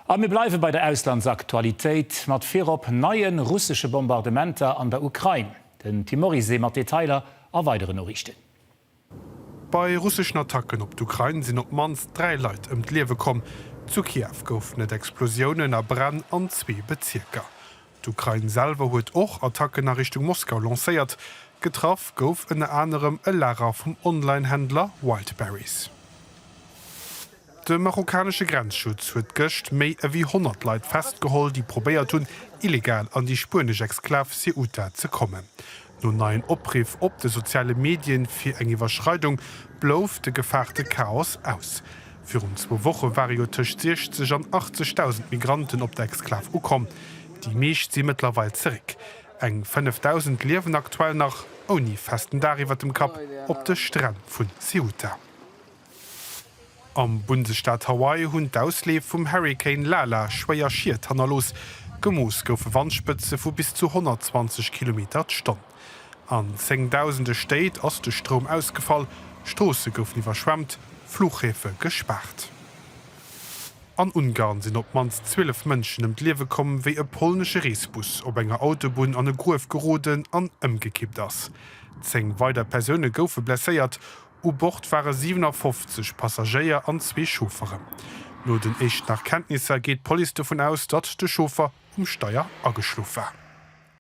A mir bleiwe bei der Auslandsaktualitéit, mat virop neie russesche Bombardementer an der Ukrain. Den Tim Morisé mat Detailer a weidere Noriichten. Bei russeschen Attacken op d'Ukrain sinn op d'mannst dräi Leit ëm d'Liewe komm. Zu Kiew goufen et Explosiounen a Bränn an zwee Bezierker. D'Ukrain selwer huet och Attacken a Richtung Moskau lancéiert. Getraff gouf ënner anerem e Lager vum Online-Händler Wildberries. De marokkanesche Grenzschutz huet gëscht méi ewéi 100 Leit festgeholl, déi probéiert hunn, illegal an déi spuenesch Exklav Ceuta ze kommen. No neien Opriff op de soziale Medien fir eng Iwwerschreidung blouf de gefaarte Chaos aus. Virun zwou Woche ware jo tëscht 60 an 80.000 Migranten op der Exklav ukomm. Déi meescht si mëttlerweil zeréck. Eng 5.000 liewen aktuell nach ouni festen Dag iwwer dem Kapp op de Stränn vun Ceuta. Am Bundesstaat Hawaii hunn d'Ausleef vum Hurrikan Lala schwéier Schied hannerlooss. Gemooss goufe Wandspëtze vu bis zu 120 Kilometer d'Stonn. An zéngdausende Stéit ass de Stroum ausgefall, Stroosse goufen iwwerschwemmt, Fluchhäfe gespaart. An Ungarn sinn op d'mannst 12 Mënschen ëm d'Liewe komm, wéi e polnesche Reesbus op enger Autobunn an e Gruef geroden an ëmgekippt ass. Zéng weider Persoune goufe blesséiert. U Bord ware 57 Passagéier an zwee Chaufferen. No den éischten Erkenntnisser geet d'Police dovun aus, datt de Chauffer um Steier ageschlof war.